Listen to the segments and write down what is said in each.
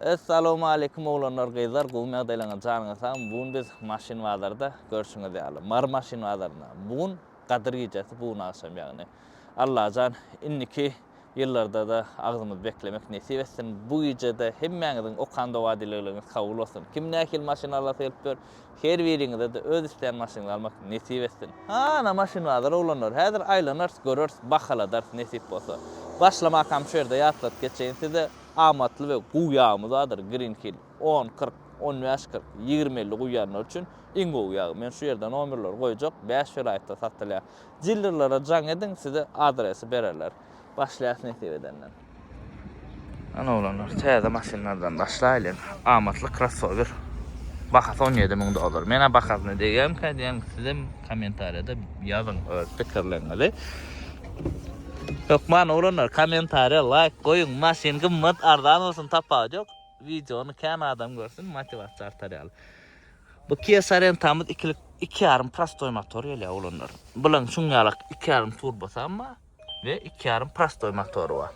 Essalowmaleýkim oglanlar gyzlar gowymy ýagdaýlaryňyz janyňyz sag bugun biz maşyn bazarda görşüňiz ýaly mary maşyn bazarynda bugun gadyr gijesi bugun agşam ýagny Allajan indiki ýyllardada agzymyz beklemek nesip etsin bu gijede hemmäňiziň okan doga dilegleriňiz kabul bolsun kim nähili maşyn alasy gelip dur her biriňizede öz islän maşynyňyz almak nesip etsin hana maşyn bazar oglanlar häzir aýlanars göreris bahaladarys nesip bolsa başlamakam şu ýerde ýatladyp geçeýin size Amatly we gowy ýagmy zadyr Green Hill. On, kyrk, on bäş, kyrk, ýigrimi, elli guýýanlar üçin iň gowy ýag. Men şu ýerde nomerleri goýjak, bäş welaýatda satylýar. Dillerlere jaň ediň, size adresi bererler. Başlaýas nesip edenden. Ýan oglanlar täze maşynlardan başlaýlyň. Amatly krossower. Bahasy on ýedi müň dollar. Menä bahasyna degýämkä diýäň, sizem kommentariýada ýazyň öz pikirleriňizi. Hökman oglanlar kommentariýa laýk goýuň maşyn gymmat arzan bolsun tapawut ýok wideony kän adam görsün motiwasiýa artar ýaly bu kia sarentamyz ikilik iki ýarym prostoý motor gelýär oglanlar bulan şuň ýalak iki ýarym turbosy hem bar we iki ýarym prostoý motory bar.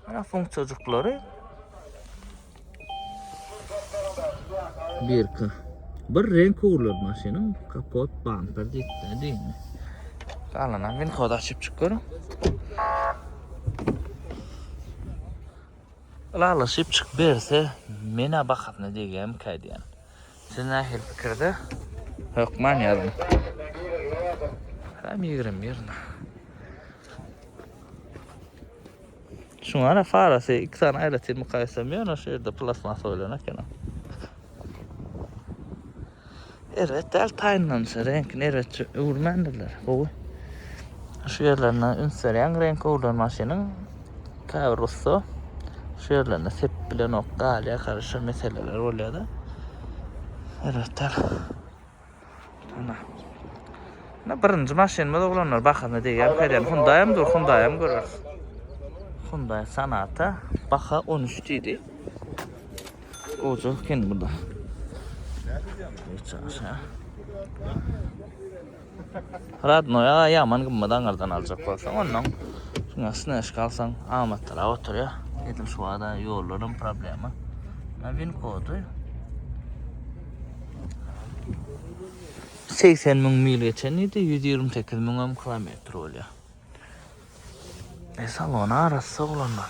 Mana funksiýajyklary. Birki. Bir renk ugrulur maşynyň kapot bamper diýip diýme. Galanam men kod açyp çykyp Lalaşyp çyk berse, mena bahasyna degýämkä diýen. Siz nähili pikirde? Hökman ýazyň. Hem ýigrimi bir na. Şuň ara farasy iki sany aýratyn mukaýesem ýöne şu ýerde plastmasa bolan ekeni. Erbet däl taýynlanyşy, reňkini erbet öwürmändirler. Gowy. Şu ýerlerine üns berýän reňk öwrülen maşynyň Käbir ussa şu ýerlerine sepip bilenok, galýar garyşa meseleler bolýar-da. Elbetde. Ana. Na birinji maşynymyz oglanlar bahasyna degýär kerem. Hyundai hem dur, Hyundai hem göreris. Hyundai Sonata baha 13 diýdi. Goja eken bu da. Nädip ýaňa? Hiç aşa. Radnoy aga ýaman gymmat aňyrdan aljak bolsaň ondan şuna snäşka alsaň amatlyrak oturýar. Edim şu wada ýollarym problema. Na win kody 80 müň mil geçen idi, 128 müňem kilometr bolýar. E salon arassa olanlar.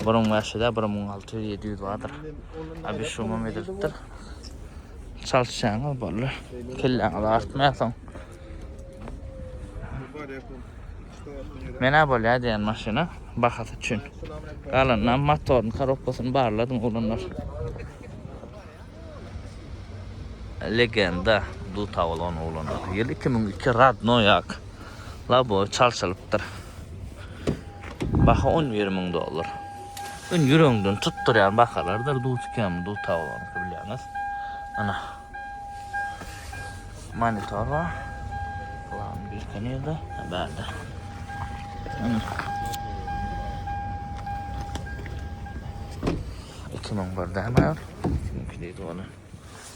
Bir müň bäş ýüz-ä, bir müň alty ýüz, ýedi ýüz bardyr. Abi şumam edilipdir. Çalyşýaňyz bolly. Kelläňiz artmaýarsoň. Menä bolýar diýen maşyna bahasy üçin. Galanynam motoryny, korobkasyny barladyň oglanlar. Legenda duta bolan oglanlar. Ýyl 2002 Radnoýak. Labo çalşylypdyr. Baha 11 müň dollar. Ün ýüregiňden tutdurýan bahalardyr dut kem duta bolan bilýäňiz. Ana. Monitor bar. Plan bir kenede. Bärde. Ana. 2001 däme. Siňki diýdi ony.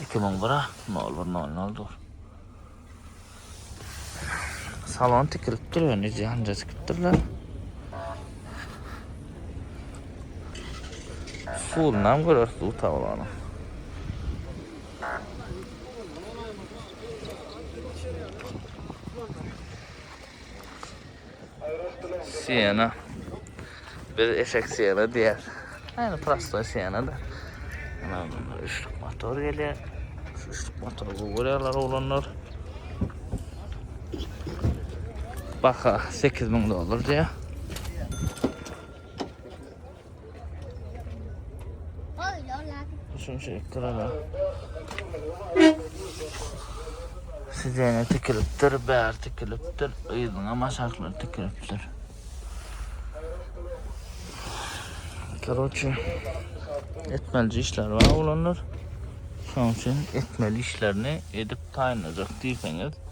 2001-a 01.00-dyr. Salon tikilipdir, öni janda tikipdirler. Suwundan görer suw tablanı. Siena. Biz eşek Siena diýer. Ýani prostoý Siena-da. Ana bunda üçlük motor gelýär. Şu üçlük motory gowy görýärler oglanlar. Baha 8000 dollar diýýär. Üçünçi ekrana. Sizene tikilipdir, bär tikilipdir, yzyna maşaklar tikilipdir. Karoçi, etmeli işler var olanlar. Şoň üçin etmeli işlerini edip taýynlajak diýseňiz,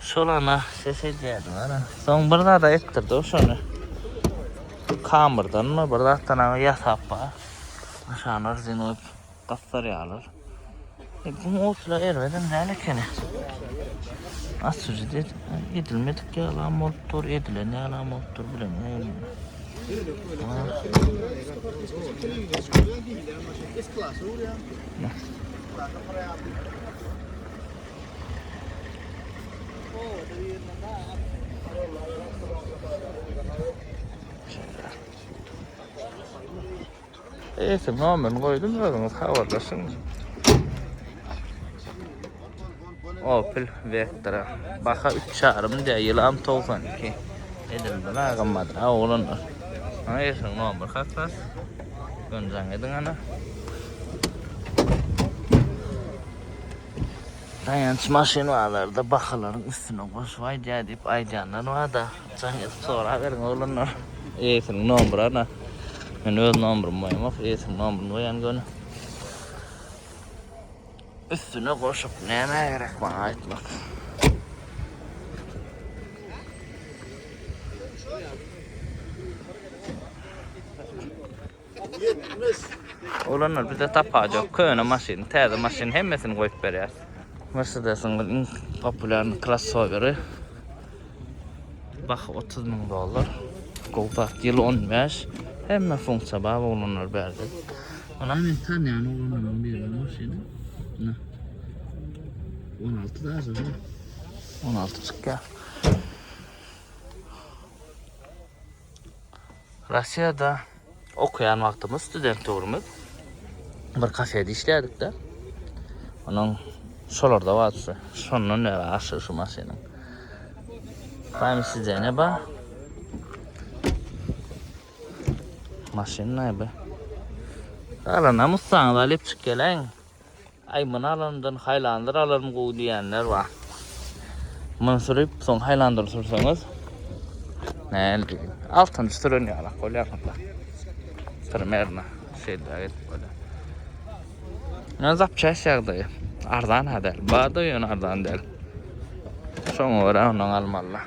Şolana ses edýärdim ana. Soň bir zada etdirdi o şony. Kamyrdan mı bir zatdan aga ýasap bar. Aşagyna rezin goýup gapdarýarlar. E, bu otla erbedem däl ekeni. Açyjy diýip edilmedik ýalam bolup dur, edilen ýalam bolup dur bilemeýin. Ha. Eýesi nomerini goýdum, özüňiz habarlaşyň. Opel Vectra. Baha 3,5 diýä, ýylam 92. Edildi la gymmat, ha oglanlar. Ha eýesiň nomer hatlap. Gönjaň ediň ana. Daýanç maşyn bazarda bahalaryň üstüne goşup aýdýar diýip aýdýanlar barda jaň edip soraberiň oglanlar. Eýesiniň nomry ana. Men öz nomrymy goýamok, eýesiniň nomryny goýan göni. Üstüne goşup nämä gerek maňa aýtmak. Oglanlar bize tapaç yok. Köne maşyn, täze maşyn hemmesini koyup berýär. Mercedes'in iň populýar krossoveri. Baha 30 ming dollar. Kolpak ýyl 15. Hemme funksiýa bar oglanlar berdi. Ana men tanýan oglanlaryň biri maşyny. 16 da azar. 16 çykýar. Russiýada okaýan wagtymyz student döwrümüz bir kafede işledik-de. Onuň şolarda wagtysy. Şondan bäri aşygy şu maşynyň. Prime sidene bar. Maşyn näbi? Galana Mustang alyp çyk geleň. Aý muny alanymdan haýlandyr alarym gowy diýýänler bar. Muny sürüp soň haýlandyr sürseňiz näme altynjy süren ýalak bolýar munda. Primerno şeýle edip bolýar. Ýöne zapçast ýagdaýy. Arzan-a däl. Bar-da ýöne arzan däl. Şoňa görä ondan almalylar.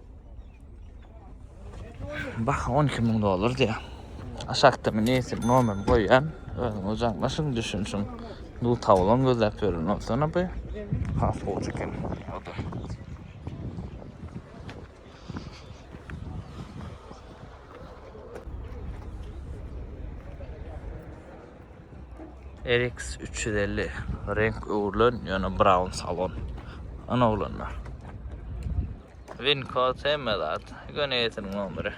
Bah 12 müň dollar diýär. Aşakda men esim nomerim goýýan. Özüňiz jaňlaşyň, düşünşiň. Bu tawlan gözläp ýören bolsana bu. Has gowy çeken. Oda. RX 350 renk öwrülen, ýöne brown salon. Ana oglanlar. Wincode hemme zat. Göni etiniň nomeri.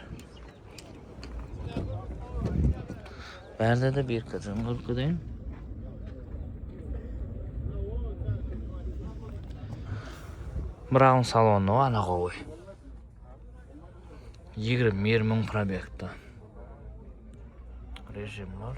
Berde de bir kızım korkudan. Brown salonda var ana kovuy. 20-20 probekta. Rejim var.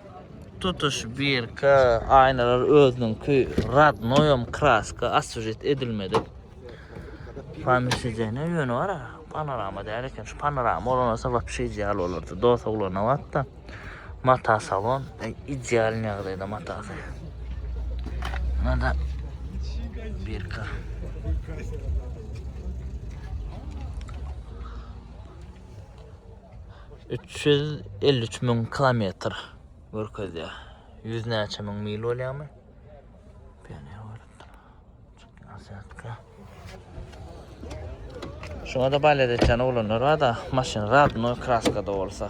Tutuş birki aýnalar özüniňki radnoýam kraska aswjet edilmedik. Pomisijene ýöne bar, panorama däl eken. Şu panorama bolansa wapşe ideal bolardy. Dos oglana batda. Mata salon e, ideal ýagdaýda matasy. Nada birki. 353 müň kilometr görkezýär. 100 näçe müň mil bolýarmy? Pioner bolupdyr. Azyatka. Şuna da balet etýän oglanlar bar da, maşyn radno kraskada bolsa.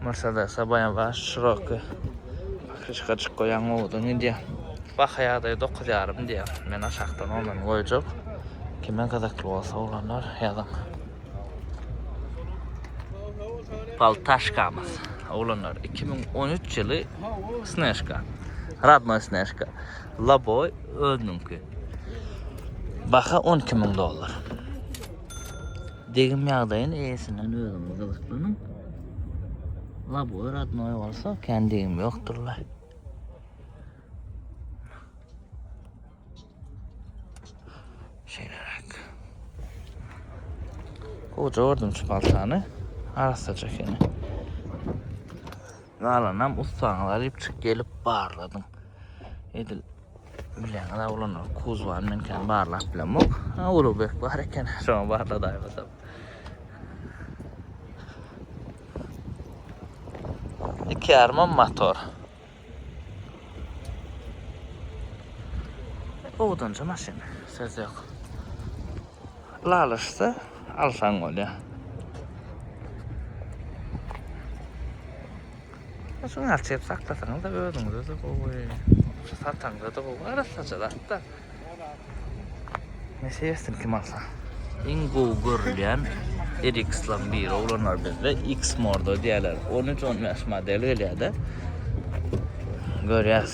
Mersedese baş şiroki pokrişka açyk goýaň gowudan gidýär. Baha ýagdaýy dokuz ýarym diýýär. Men aşakdan ondan goýjak. Kime gyzykly bolsa oglanlar ýazyň. Paltaşkamyz oglanlar iki müň on üç ýyly snežka. Radnoý snežka. Laboý özüniňki. Baha on iki müň dollar. Degim ýagdaýyny eýesinden özüňiz gyzyklanyň. Labour adnoý bolsa kän degim ýokdurlar. Şeýleräk. Goja gördüm şu paltany. Arassaja ekeni. Galanam ussaňyz alyp çyk gelip barladyň. Edil Bileňizä oglanlar kuzwany men kän barlap bilemok. Ha Ulubek bar eken şoňa barladaýmasam. Iki ýarymam motor. Owdanja maşyn söz ýok. Lalaşsa alsaň bolýar. Şuny açyp saklasaňyz-da özüňize-de gowy. Şu sataňyza-da gowy. Arassaja zat-da. Nesi ýetsin kim alsa. Iň gowy görülýän RX-laryň biri oglanlar bizde X-Mordo diýýärler. 13-15 model gelýär-de. Görýäs.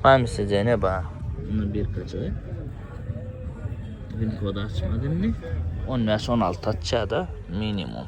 Hamisy jene ba. Indi bir kaçay. Win kod açmadı indi. 15-16 açýar-da minimum.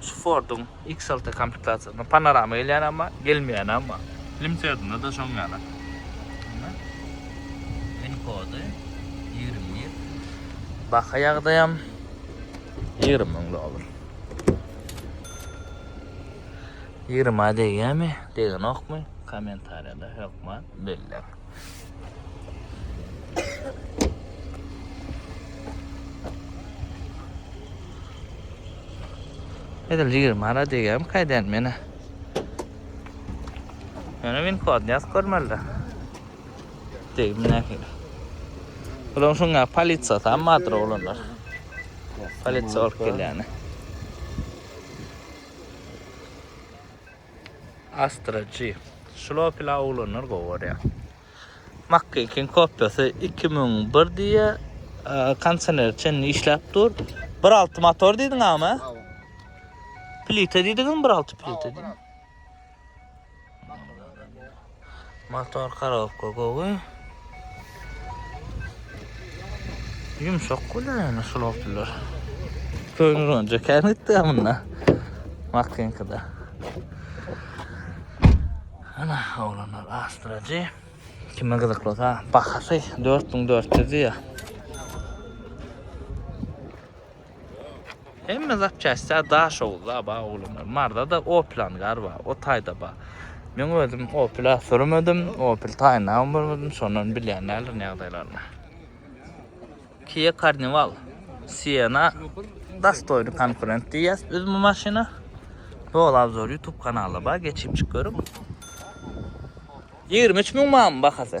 Şu Ford'un X6 komplektasiýasynda panorama gelýän ama, gelmeýän ama. Limsedinde de şoň ýaly. Win kody 21. Baha ýagdaýam 20 müň dollar. 20 degýärmi, degenokmy? Kommentariýada hökman belläň. Edil 20 ara degem kaýdan meni. Ýöne win kodny ýazyp görmeli. Degim nähili. Bulan şuňa polisiýa tam madyr oglanlar. Polisiýa bolup gelýäni. Astra G. Şlopila oglanlar gowy görýär. Makkekin kopyasy 2001 diye konsener çen işläp dur. 1.6 motor diýdiň ama. Plita diýdiňizmi 1.6 plita diýdiň. Motor korobka gowy. Ýumşak bolýar ýöne şul awtolar. Köňrünje kän gitdi amynda. Makinkada. Ana oglanlar astrajy. Kime gyzykly olsa bahasy 4400 diýýär. Hemme zapçastya daş oguz aba ogulymlar. Marzada Oplan gar bar, o taýda bar. Men özüm Opla sürmedim, Opel taýyna görmedim, şondan bilýän däldirin ýagdaýlaryny. Kia Carnival, Siena dastoýny konkurent diýýäs biz bu maşyna. Ýol obzor YouTube kanalda bar, geçip çyk görüň. 23 müň manmy bahasy?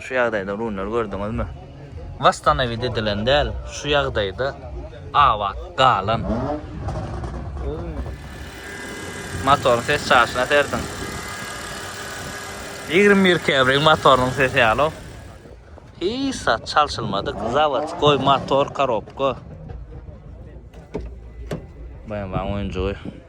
Şu ýagdaýda runlary gördüňizmi? Wastanawiýt edilen däl, şu ýagdaýda abat galan. Motoryň ses çaşyna serediň. Ýigrimi bir käbiriň motorynyň sesi ýaly-ow. Hiç zat çalşylmadyk, zawodskoý motor, korobka. BMW-niň oýunjygy.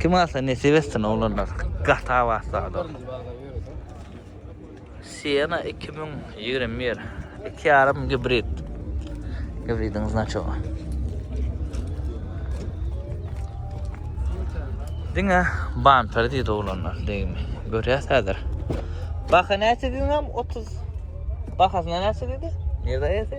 Kim alsa nesip etsin oglanlar gaty abat zador. Siena 2021 iki yarım gibrid. Gibridin znaçoga. Diňe bamper diýdi oglanlar degmi. Görýäs häzir. Baha näçe diýdim 30. Bahasyna näçe diýdi? Nerede ýazy?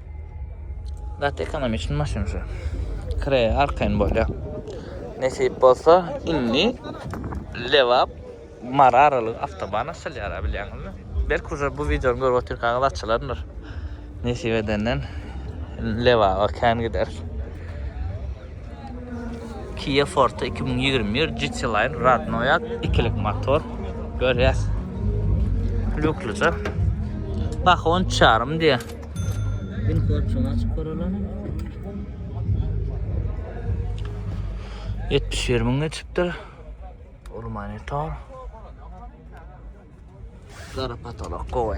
Gaty ekonomiçn maşyn şu. Kre arkaýyn bolýar. Nesip bolsa indi Lebap Mara aralygy awtoban açylýar bilýäňizmi? Belki uza bu wideony görüp otyrkaňyz açylandyr. Nesip edenden Lebaba kän gider. Kia Forte 2021 GT Line Radnoya ikilik motor. Görýäs. Lukluca. Baha 13,5 diýýär. Ýetmiş bir müň geçipdir. Ol monitor. Gara patolok gowy.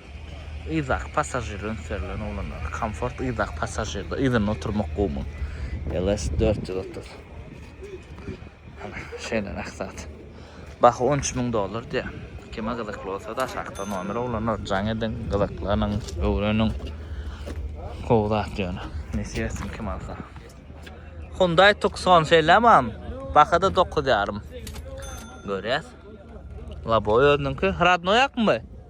Yzdaky passažir öňserilen oglanlar. Komfort yzdaky passažirde yzynda oturmak gowumy? LS dört ýüz otuz. Hana, şeýle nähili zat. Baha on üç müň dollar diýýär. Kime gyzykly bolsa-da aşakda nomer oglanlar jaň ediň, gyzyklanyň, öwreniň. Gowy zat ýöne. Nesip etsin kim alsa. Hyundai Tucson şeýlemi am? Baha-da dokuz ýarym. Görýäs. Lobowy özüniňki. Hradnoýakmy bu?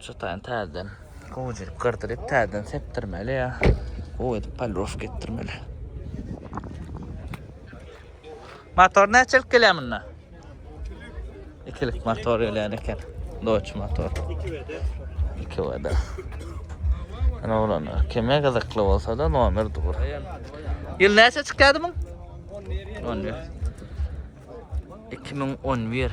Şu taýyn täzeden gowujelik gyrdyryp, täzeden sepdirmeli ýa gowy edip polirowka etdirmeli. Motor näçelik gelýär munda? Ikilik motor gelýän eken. Doç motor. İki veda. İki veda. Ana olanlar. Kime gyzykly bolsa da nomer dur. Yıl näçe çıkýardy bu? 11. 11. 2011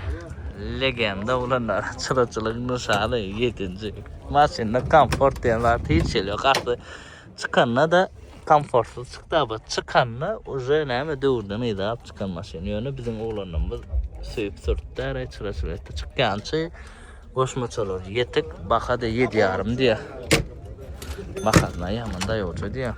legenda olanlar çyraçylygyň nişany 7-nji. Maşynda komfort diýen zat hiç ýeli ýok. Asly çykanda da komfortly çykdy, aba çykanda uje näme döwürden ýadap çykan maşyn. Ýöne biziň oglanlarymyz söýüp sürtdi, ara çyraçylyk etdi. Çykýançy goşmaçalar ýetik, baha da 7,5 diýýär. Bahasyna ýaman daýawça diýýär.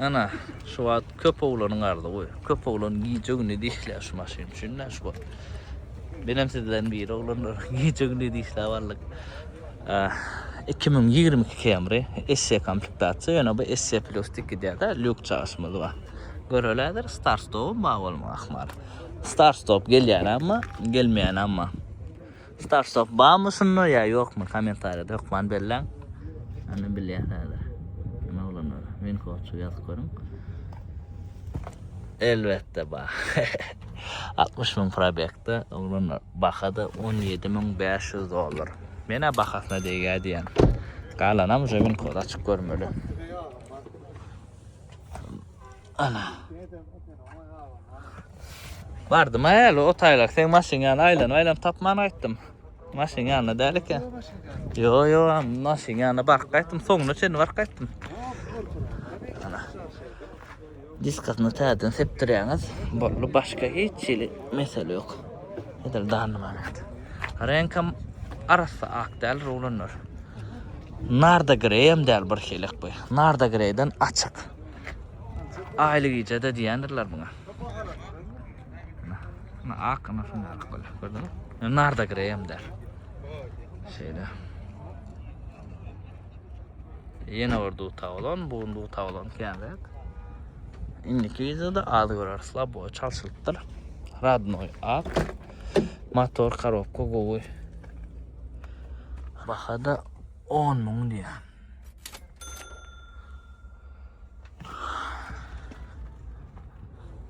Ana, şu wagt köp oglanyn ardy goý. Köp oglan gije güni diýilýär şu maşyn üçin şu wagt. Benem sizden biri oglanlar gije güni diýilýär walla. Iki müň ýigrimi iki Camry SE komplektasiýa, ýöne bu SE plus dik gidýärde, lýuk çagyşymyz bar. Göreläýdir, start stopy bar bolmagy ahmal. Start stop gelýänämi, gelmeýänämi. Start stop barmy şunda ýa ýokmy kommentariýada hökman belläň. Ýöne bilýär häzir. Kim oglanlar? Winkoçu ýazyp görüň. Elbetde bar. 60 müň probekde oglanlar. Bahada 17500 dollar. Menä bahasyna degýär diýen. Galanam uje gün kod açyp görmeli. Ana. Bardy ma ýaly o taýlak sen maşyn ýaly aýlan aýlan tapman aýtdym. Maşyn ýaly däl eken. Yo yo maşyn ýaly bar gaýtdym soňuna çenli bar gaýtdym. Diskasyny täzeden sepdirýäňiz boldy başga hiç hili mesele ýok. Edil dany manat. Reňkam arassa ak däl rulanlar. Narda greýem däl bir hilek bu. Narda greýden açyk. Aýly gijede diýendirler muňa. Muny ak ina şunda ak bolýar. Gördüňiz? Narda greýem däl. Şeýle. Ýene bir duta bolan, bu gün duta bolan känräk. Indiki wideoda az göreris, labowy çalşylypdyr. Radnoy ak. Motor korobka gowy. Bahada 10 müň diýýär.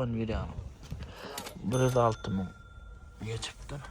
On ýüz ýaňy. Bir ýüz alty müň geçipdir.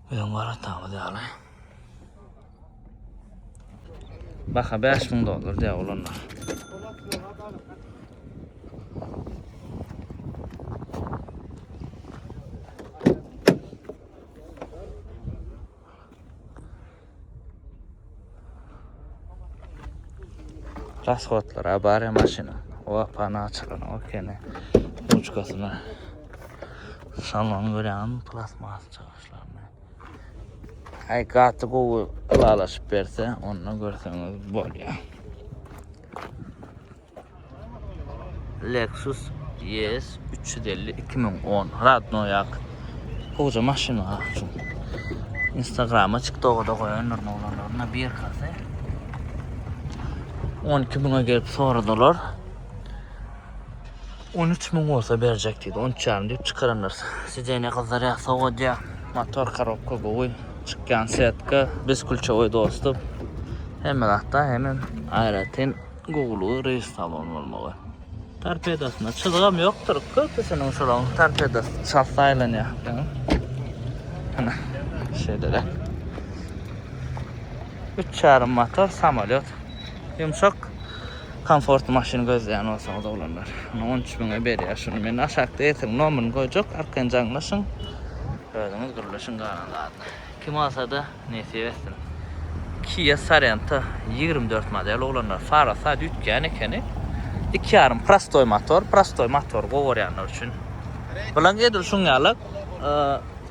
Öň garaşdygymyz ýaly. Baha bäş müň dollar diýýär olanlar. Rasxodlara barýa maşyna. O apany açylan o kene. Uçkasyna. Salon görýän plasmas çykyşlaryny. Ay gaty gowy ylalaşyp berse, onda görseňiz bolýar. Lexus ES 350 2010 radno ýak. Goja maşyn ha. Instagrama TikTok'a da goýanlar oglanlaryna bir kase. 12 müňe gelip soradylar. 13 müň bolsa berjek diýdi. 13 ýarym diýip çykaranlar. Sideniýa gyzlar ýa sowadýa. Motor korobka gowy. Çykýan setka, biz kulçowy dostum. Hemme zatda hemen aýratyn Gowulygy reýstalon bolmagy. Torpedosynda çyzygam ýokdur. Köpüsiniň şolaň torpedosy çalsa aýlanýar. Ana, şeýle-de. Üç ýarym motor samolýot. Ýumşak komfortly maşyn gözleýän bolsaňyz oglanlar. Ana 13 müňe berýär şuny. Men aşakda eýesiniň nomerini goýjak, arkaýyn jaňlaşyň. Özüňiz gürleşiň galan zadyny. Kim bolsa-da Nesip etsin. Kia Sorento ýigrimi dört model oglanlar fara sad üýtgän ekeni iki ýarym prostoý motor prostoý motory gowy görýänler üçin bilen edil şuň ýaly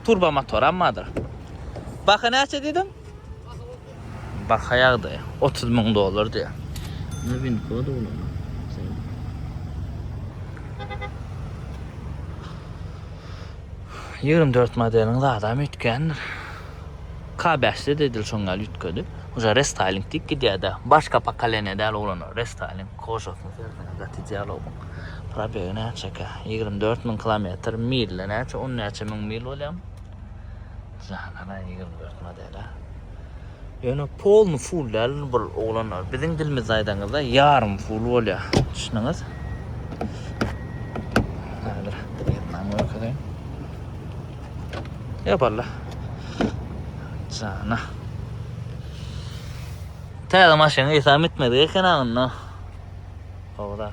turbo motoram bardyr baha näçe diýdiň baha ýagdaýy otuz müň dollar diýýär nowinka ýa-da olam Ýigrimi dört modeliň zadam üýtgändir. K bäşde de edil şoň ýaly üýtgedi. Oja restyling diýip gidýärde. Başga pokoleniýa däl oglanlar restyling kožasyny serseňiz gaty dialogyň probegi näçekä? Ýigrimi dört müň kilometr mille näçe on näçe müň mil bolýamy? Janara ýigrimi dört modele. Ýöne polny ful däl bu oglanlar. Biziň dilimizde aýdaňyzda ýarym ful bolýar. Düşündiňiz? Häzir ýetmän görkezeýin. Ýa balla. Jana. Täze maşyn eýsam etmedi eken aňynda. Howda.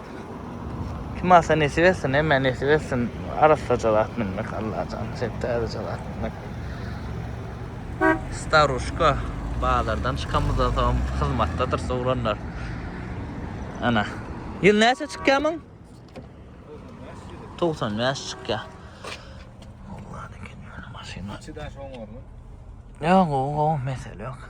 Kim alsa nesip etsin, hemmä nesip etsin. Arassaja zat münmek Allajan, şeýdip täzeje zat münmek. Staruşka bazardan çykamyzdan soň hyzmatdadyr sowranlar. Ana. Ýyl näçe çykýar muň? 95 çykýar. Allah'ın ikinci maşyna. Çidaş oňarly. Yok, o, o mesele yok.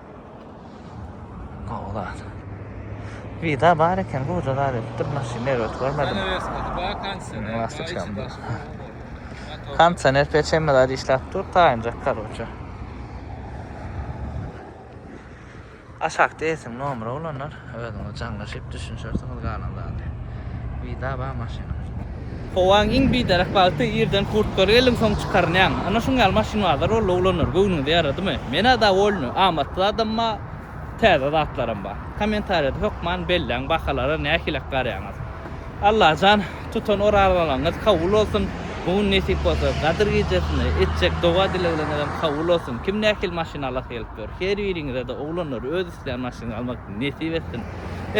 Gowular. Vida bar eken, bu da zat edip durma, şi nerwet görmedim. Kansener peçemde zat işläp dur, taýynjak karoçe. Aşakda esin nomra olanlar. Özüňiz jaňlaşyp düşünşersiňiz galan zady. Wida bar maşynyň. Howaň iň biderek wagty irden kurtkaly geldiň soň çykarynýaň. Ana şuň ýaly maşyn bazar boldy oglanlar göwnüňize ýaradymy? Menä dowolny, amatly zadam bar, täze zatlaram bar. Kommentariýada hökman belläň bahalara nähilek garýaňyz. Allajan tutan orazalaryňyz kabul bolsun, bu gün nesip bolsa Gadyr gijesinde etjek doga dilegleňizem kabul bolsun. Kim nähili maşyn alasy gelipdir? Her biriňizede oglanlar öz Islän maşynyňy almak nesip etsin.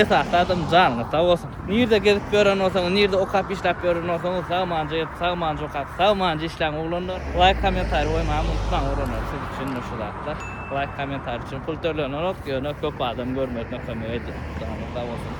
Esasy adam janyňyz sag bolsun. Nirde gezip ýören bolsaňyz, nirde okap işläp ýören bolsaňyz sagmanja gezip, sagmanja okap, sagmanja işläň oglanlar. Laýk kommentariý goýmagyňy unutmaň oglanlar siz üçindir şu zatlar. Laýk kommentariý üçin pul tölenenok ýöne köp adam görmesine kömek edýär. Janyňyz sag bolsun.